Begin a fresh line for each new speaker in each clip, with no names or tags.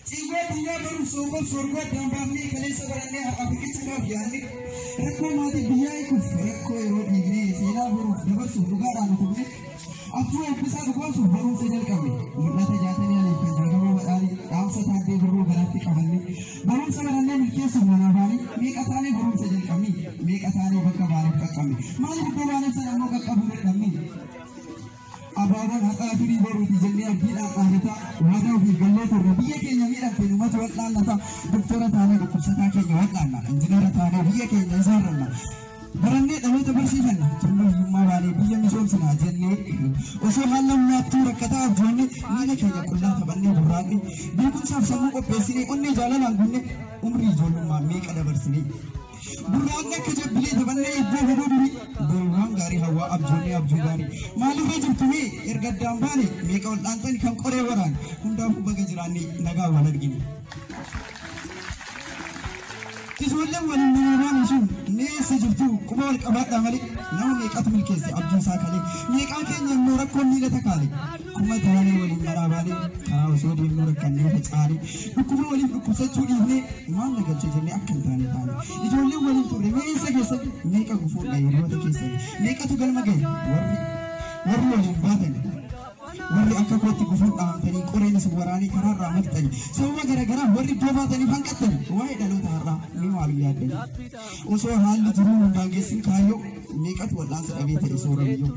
Ciigoo addunyaa baruuf soogoof soorgoo addaan baafnee kaleessa barannee har'a buqqichuudhaaf yaadne rakkoo maatii biyyaa eeguuf rakkoo yeroo dhiignee seenaa baruuf dabarsuuf dhugaadhaan utubne abjuu eebbisaa dhugoomsuuf barumsa jalqabne mul'ata jaatanii aliif kan jaagamoo badhaanii dhaamsa taaddee birruu garaatti qabanne barumsa barannee milkeessuuf manaa baanii meeqa taanee barumsa jalqabne meeqa taanee bakka baaniif qaqqabne maaliif iddoo baaniif sana ammoo qaqqabuu dadhabne Abaaboon haqaa firii boruuti jennee abdiidhaan dhaadataa waadaa ofiif gallee turre biyya keenya miidhamte numatu wal'aannata doktora taanee dhukkubsataa keenya wal'aanna injineera taanee biyya keenya ijaarranna barannee dhaloota barsiifanna turre hiyyummaa baanee biyya misoomsina jennee osoo haala nyaattuu rakkataa abjoonne miila keenya qullaa taphannee burraaqne beekumsaaf sammuu qopheessinee onnee jaalalaan gunne umrii ijoollummaa meeqa dabarsinee Gurraandha akka jabbilee taphannee iddoo hidhuu durii Boriwwaan gaarii hawwaa abjoonnee abjuu gaarii Maalirra jirtu mee erga addaan baane meeqa wal dhaantani kan qoree waraan Hundaafuu baga jiraanne nagaan wal argine. Ijoolleen waliin manaa baanu sun mee eessa jirtu quba wal qabaadhaa malee nama meeqatu milkeesse abjuu isaa kalee meeqaa keenya immoo rakkoon miila takaale. Akkuma taanee waliin garaa baanee karaa osoo deemnuu rakkannee facaane dhukkuba waliif dhukkubsachuu dhiifnee maal na galcha jennee akka hin taane taane ijoolleen waliin turre mee eessa keessan meeqa gufuudha hiriyoota keessan meeqatu galma gahe warri warri waliin baatan warri akka kootti gufuun dhaamtanii qoreen isin waraanee karaarraa maftanii sababa garaagaraa warri iddoo baataniif hanqattanii waa'ee dhaloota har'aa mee maal yaaddanii Osoo haalli jiruu hin daangessin kaayyoo meeqatu wal'aansa dhabee ta'e soorayyuu.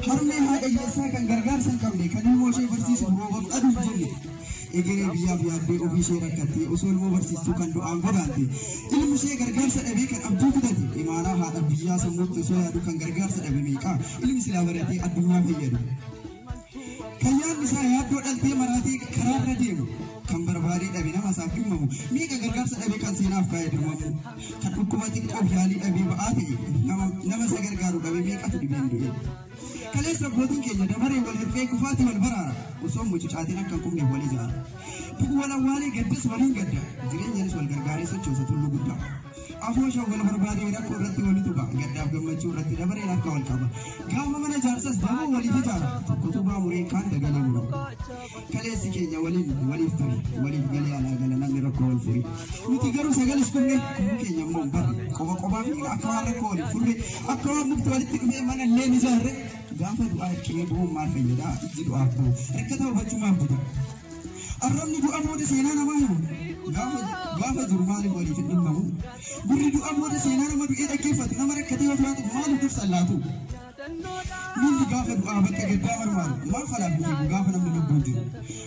Harmee haadha hiyyeessaa kan gargaarsa hin qabne kan ilmoo ishee barsiisu roobaf aduu hin jenne. Egeree biyyaaf yaaddee ofii ishee rakkattee osoo ilmoo barsiistuu kan du'aan godaante. Ilmi ishee gargaarsa dhabee kan abdii kutate imaaraa haadha biyyaa sammuutti osoo yaadu kan gargaarsa dhabe meeqa ilmi silaa baratee addunyaa fayyadu. Kan yaadni isaa yaaddoo dhaltee maraatee karaarra deemu kan barbaadee dhabe nama isaaf dhimmamu meeqa gargaarsa dhabe kan seenaaf kaa'e dirmamu kan dhukkuba xiqqoof yaalii dhabee ba'aa ta'e nama nama isa gargaaru dhabe meeqatu dhibeen du'e. Kaleessa abbootiin keenya dabaree wal hirree kufaatii wal baraara osoo mucucaatiin akka hin kufneef wal ijaara. Du'u wal awwaalee gaddas waliin gadda jireenyaanis wal gargaaree sochoosa tulluu guddaa. Afoosha wal barbaadee rakkoo irratti wal tuba. Gaddaaf gammachuu irratti dabareen harka wal qaba. Gaafa mana jaarsas damuu waliif ijaara. Tokko tubaa mureen kaan dagalee muru. Kaleessi keenya waliin waliif ture. Waliif galee alaa gala namni rakkoo wal fure. Nuti garuu sagalis dhumne kubbuu keenya immoo hin barre. Qofa qofaa fi akka waan rakkoo waliif furre. Akka waan mukti walitti dhufee mana illee ni ijaarre. Gaafa du'aa hirqinee bu'uun maal fayyada? Ijji du'aaf bu'u. Rakkata hubachumaaf buta. Arrabni du'a booda seenaa namaa himu gaafa gaafa jiru maaliif waliif hin dhimmamu? Gurri du'a booda seenaa nama du'ee dhaggeeffatu nama rakkatee ofii haatuuf maaliif dursa laatu? Miilli gaafa du'aa bakka gaddaa marmaaru maaf alaa hin fiigu gaafa namni lubbuun jiru?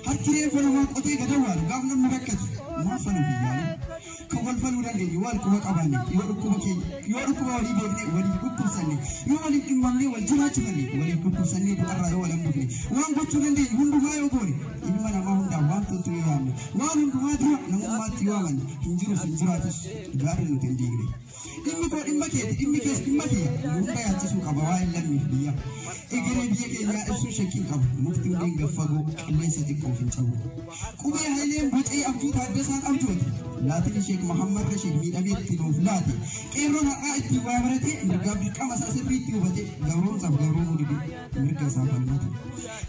Harki reeffa namaa qotee gadawwaaru gaaf namni rakkatu maaf aluu hin yaalu? kafalfaluu dandeenyu waan quba qabaanne yoo dhukkuba keenya yoo dhukkuba walii beekne waliif dhukkubsanne yoo waliif dhimmamne wal jiraachifanne waliif dhukkubsanne du'arraa yoo wal hambifne waan gochuu dandeenyu hundumaa yoo goone ilma namaa hundaaf waan toltu yoo yaadne waan hundumaa dura namummaatti yoo amanne hin jirus hin jiraatus gaarri nuti hin diigne. Dhimmi koo dhimma keeti, dhimmi kees dhimma kiyya. Hunda yaachisuu qaba waa'een lammiif biyya. Egeree biyya keenyaa ibsuu shakkiin qabu. Mukti hundeen gad fagoo, qilleensa xiqqoof hin cabu. Qubee Hayileen bocee abjuu Taaddasaan abjoote. Laatiin Sheek Mahammad Rashiid miidhamee itti nuuf laate. Qeerroon har'aa ittiin waa barate, mirgaaf dirqama isaa sirriitti hubate. Gabroomsaaf gabroomuu dide. mirga isaa falmatu.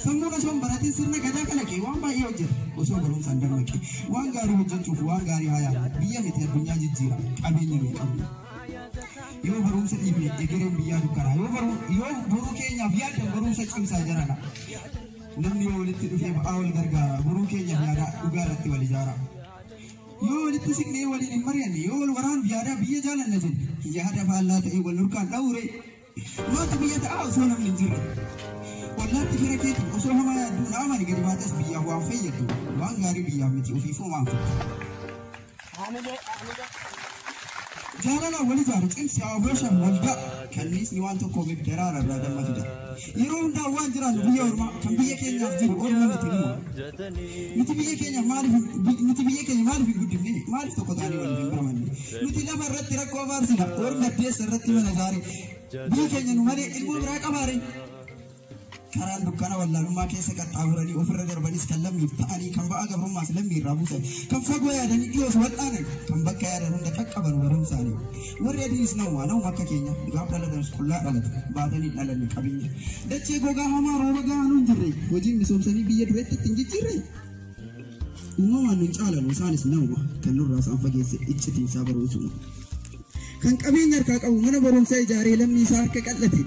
Sammuun osoo hin baratin sirna gadaa kalaqe waan baay'ee hojjeta. Osoo barumsaan dammaqe waan gaarii hojjechuuf waan gaarii haa yaadu. Biyya miti addunyaa jijjiira qabeenya nuyi qabnu. Yoo barumsa dhiifne egereen biyyaa dukkanaa. Yoo baruu yoo boruu keenyaaf yaaddan barumsa cimsaa jarana. Namni yoo walitti dhufee ba'aa wal gargaara boruu keenyaaf yaadaa dhugaa irratti wal ijaara. Yoo walitti siqnee waliin hin mari'anne yoo wal waraanuuf yaadaa biyya jaalanna jenne yaada faallaa ta'e wal nurkaan dha'uure Looti biyya ta'aa osoo namni hin jirre. Ollaatti fira keetiif osoo hamaa yaadduu Naa'omaan gadi baatees biyyaaf waan fayyaddu waan gaarii biyyaaf miti ofiifuu waan fayyaddu. Jaalalaan wal ijaaru cimsi haa obooshan waldaa kanniisni waan tokkoomeef daraara irraa damma fida. Yeroo hundaa waan jiraannu biyya ormaa kan biyya keenyaaf jiru orma miti numa. Nuti biyya keenya maaliif hin- bi- nuti biyya keenya maaliif hin guddifne maaliif tokko taanee waliif hin birmanne Nuti lafa irratti rakkoo abaarsina. Warri baddeessa irratti mana ijaare. Biyyi keenya nu malee ilmoo biraa qabaare. Karaan dukkana wallaalummaa keessa qaxxaamuranii ofirra darbanis kan lammiif ta'anii kan ba'aa gabrummaas lammii irraa buusan kan fagoo yaadanii dhiyoos wal'aanan kan bakka yaadan hunda qaqqaban barumsaanii warri adiinis nawwaa nawuma akka keenya gaaf dhalatanis qullaa dhalatu baatanii dhalanni qabeenya dachee gogaa hamaa rooba gahaa nu hin jirre hojiin misoomsanii biyya dureetti ittiin jijjiirre Uumamaan nun caalan isaanis nama kan nurraa isaan fageesse iccitiin isaa barumsuma. Kan qabeenya harkaa qabu mana barumsaa ijaaree lammii isaa harka qal'ate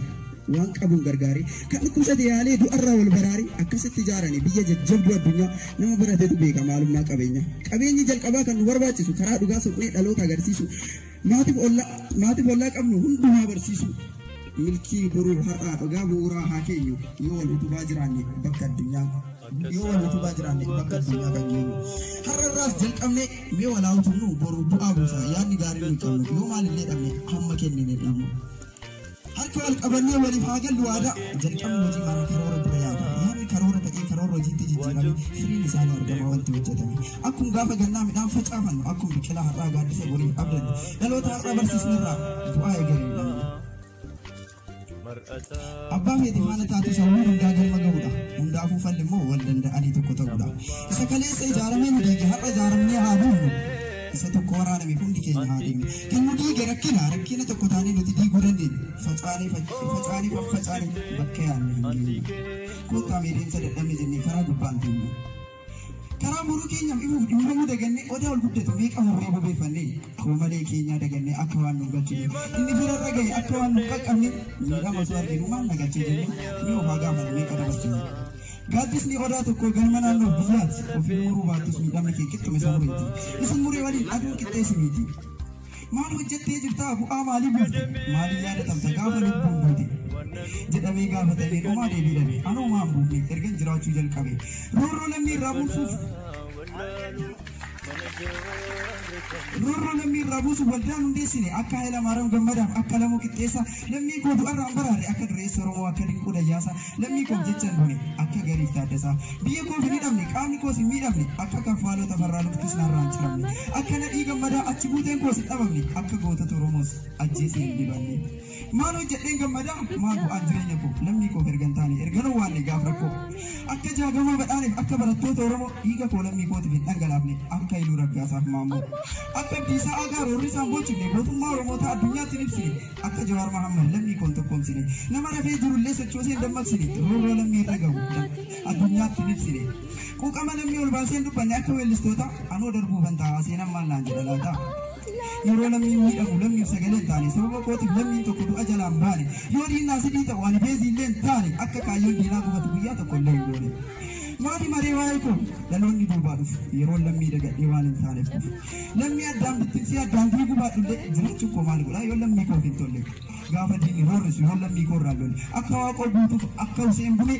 waan qabuun gargaare kan dhukkubsate yaalee du'arraa wal baraare akkasitti ijaarane biyya jajjabduu addunyaa nama baratetu beeka maalummaa qabeenya. Qabeenyi jalqabaa kan nu barbaachisu karaa dhugaa soqnee dhaloota agarsiisu Maatiif olla, maatiif ollaa qabnu hundumaa barsiisuu. Milkii boruu har'aa dhugaa bu'uuraa haa keenyu yoo wal utubaa jiraanne bakka addunyaa yoo wal utubaa jiraanne bakka addunyaa kan geenyu. Har'a irraas jalqabnee mee walaa utubnu boru bu'aa buusa yaadni gaariin nu qabnu yoo maalillee dhabne hamma kennine dhabnu. Harka wal qabannee waliif haa gallu waadaa. Jalqabni hojii maraa karoora dura yaada. Yaadni karoora ta'ee karoora hojiitti jijjiirame firiin isaa ni argama wanti hojjetame. Akkum gaafa gannaa midhaan facaafannu akkum biqilaa har'aa gaaddisa boriif abdannu dhaloota har'a barsiisnerraa bu'aa egeree hin dhabnu. Abbaa feete faana taatu sawwii hundaa galma ga'uudha. Hundaafuu falli immoo wal danda'anii tokko ta'uudha. Isa kaleessa ijaaramee nu diige har'a ijaaramnee haa buufnu. isa tokko waraaname hundi keenya haa deemne. Kan nu diige rakkina, rakkina tokko taanee nuti diiguu dandeenyu. Facaanee, facaanee, faffacaanee bakka yaadne hin geenye. Kottaa mee deemsa dadhabne jennee karaa gubbaan deemne. Karaa boruu keenyaaf ifuuf dhimmamuu dagannee odaa ol guddatu meeqa murree bobeeffannee qoomalee keenyaa dagannee akka waan nu gachine inni firarra gahe akka waan nu qaqqabne miidhama osoo arginu maal na gache jennee mee ofaa gaafanne meeqa dabarsine. Gaaddisni odaa tokkoo galma naannoof biyyaati. Ofiin muruu baattus miidhamni kee qixxuma isa mureeti. Isin muree waliin aduun qixxee si miiti. Maal hojjettee jirtaa? Bu'aa maalii buufte? Maaliin yaadatamta gaafa lubbuun duute? jedhamee gaafatamee dhumaa deebii dhabe. Anoo maan buufne ergan jiraachuu jalqabe. Roorroo lammii irraa buusuuf Roorroo lammii irraa buusuuf waldaan hundeessine akka Hayilamaariyaam Gammadaaf akka Lamuu Qixxeessaa lammii koo du'arraan baraare akka Dureessa Oromoo akka Dinquu Dayyaasaa lammii koof jechan du'e akka Gariif Taaddasaa biyya koof hin hidhamne qaamni koos hin miidhamne akka Kaffaaloo Tafarraa luktis narraa hin ciramne akka Nadhii Gammadaa achi buuteen koos hin dhabamne akka gootota Oromoos ajjeesee hin dibanne. Maal hojjedheen gammada? Maal bu'aan jireenya koo? Lammii koof ergan taane, ergan owwaanne gaaf rakkoo. Akka Jaagamaa Badhaaneef, akka barattoota Oromoo, dhiiga koo lammii kootiif hin dhangalaafne, akka Hayluu Raggaasaaf Maammoo. Akka Abdiisaa Aagaa roorrisaan boochifne, gootummaa Oromootaa addunyaatti hin ibsine, akka Jawaar Mahaammad lammii koo hin tokkoomsine, nama rafee jirullee sochoosee hin dammaqsine, roorroo lammii irra gahu addunyaatti hin ibsine. Quuqama lammii ol baasee hin dubbanne akka weellistootaa, anoo darbuufan taa'aa seenaan maal naan jedha laata? Yeroo lammiin miidhamu lammiif sagalee hin taane, sababa kootiif lammiin tokko du'a jalaa hin baane, yoo diinni asidii ta'u ani beezii illee hin taane, akka kaayyoon diinaa gufatu guyyaa tokko illee hin goone. Maati maree waa'ee koo dhaloonni duubaa dhufu yeroon lammii dagadhee waan hin taaneef dhufu. Lammii addaan bittimsee addaan diiguu baadhu illee jiraachuun koo maal godhaa yoo lammii koof hin tolle. Gaafa diinni roorrisu yoo lammii koo irraan lolle akka waaqoo guutuuf akka Huseen Bulee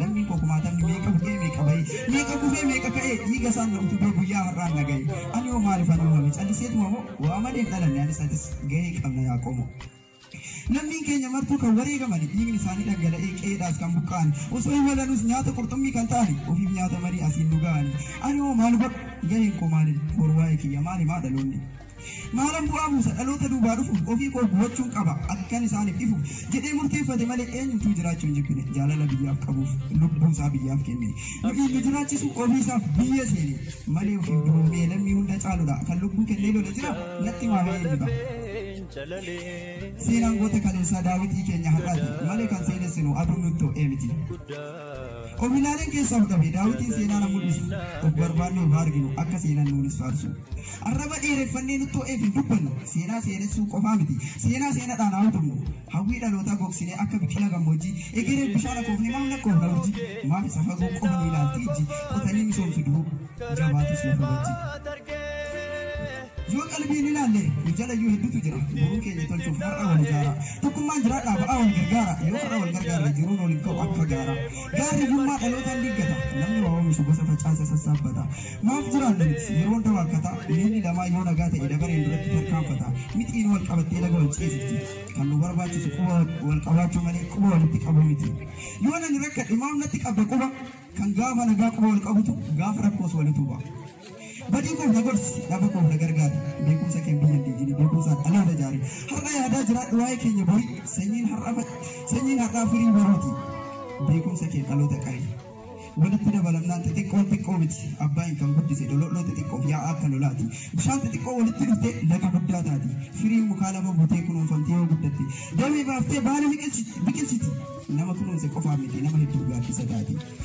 Lammiin koo kumaatamni meeqa bu'ee meeqa ba'e, meeqa kufee meeqa ka'e dhiiga isaan na utubee guyyaa har'aan na ga'e. Ani hoo maalifan uumame calliseetuma moo waa malee hin dhalanne anis atis gahee qabna yaa qomoo. Lammiin keenya martuu kan wareegamani dhiigni isaanii dhangala'ee qe'eedhaas kan buqqa'ani osoo hin walanuus nyaata qurxummii kan ta'ani ofiif nyaata marii asiin nu ga'ani. Ani hoo maal godhu gaheen koo maalin boru waa'ee kiyya maal himaa dhaloonni. Maalan bu'aa buusa? Dhaloota duubaa dhufuuf ofii koo gubachuun qaba, akkan isaaniif ifu jedhee murteeffate malee eenyumtuu jiraachuu hin jibbine. Jaalala biyyaaf qabuuf lubbuu isaa biyyaaf kenne. Nuyi nu jiraachisu ofii isaaf biyya seene malee ofiif duulmee lammii hunda caaludha. Kan lubbuu kennee lola jira natti himaa mee eenyu dha? Seenaan goota kaleessaa daawitii keenya har'aati malee kan seenessinu aduun nutti ho'ee miti. Qomilaalen keessa ol qabe daawitiin seenaa na mul'isa. Of barbaannee of haa arginu akka seenan nuunis faarsu. Arraba dheereffannee nutti ho'eef hin dubbannu. Seenaa seenessuu qofaa miti. Seenaa seenadhaan haa utubnu. Hawwii dhalootaa gogsinee akka biqila gammoojjii egeree bishaan akoofne maaf lakkoofna urjii. Maaf isa fagoo qofa nu ilaalti ijji. Qotanii misoomsu duruu jabaatus lafa wajji. Yoo qalbiin ilaalle nu jalayyuu hedduutu jira. Boruu keenya tolchuuf har'a wal ijaara. Tokkummaan jiraadhaa ba'aa wal gargaara. Yoo har'a wal gargaarre jiruun waliin ka'u akka gaara. Gaarri hiyyummaa dhalootaan diiggata. Namni waa oomishu gosa facaase sassaabbata. Maaf jiraanna nuti yeroo hunda waakkata. Miilli namaa yoo nagaa ta'e dabareen duratti tarkaanfata. Mixiin wal qabattee laga wal ceesifti. Kan nu barbaachisu quba wal qabaachuu malee quba walitti qabuu miti. Yoon ani rakkadhe maaf natti qabda quba? Kan gaafa nagaa quba wal qabutu gaafa rakkoos wal utuba. Badii koof na gorsi, dhaba koof na gargaari. Beekumsa keen biyya hin diigini, beekumsaan dhaloota ijaari. Har'a yaadaa jiraadhu waa'ee keenya bori, sanyiin har'a fa- sanyiin har'aa firii borooti. Beekumsa keen dhaloota qari. Walitti dabalamnaan xixiqqoon xiqqoo miti. Abbaayin kan guddise dolooloo xixiqqoof yaa'aa akka lolaati. Bishaan xixiqqoo walitti dhuftee laga guddaa taati. Firiin mukaa lafa buutee kunuunfamtee yoo guddatte. Damee baaftee baala biqilchi- biqilchiti. Nama kunuunse qofaaf miti nama hedduu gaaddisa taati.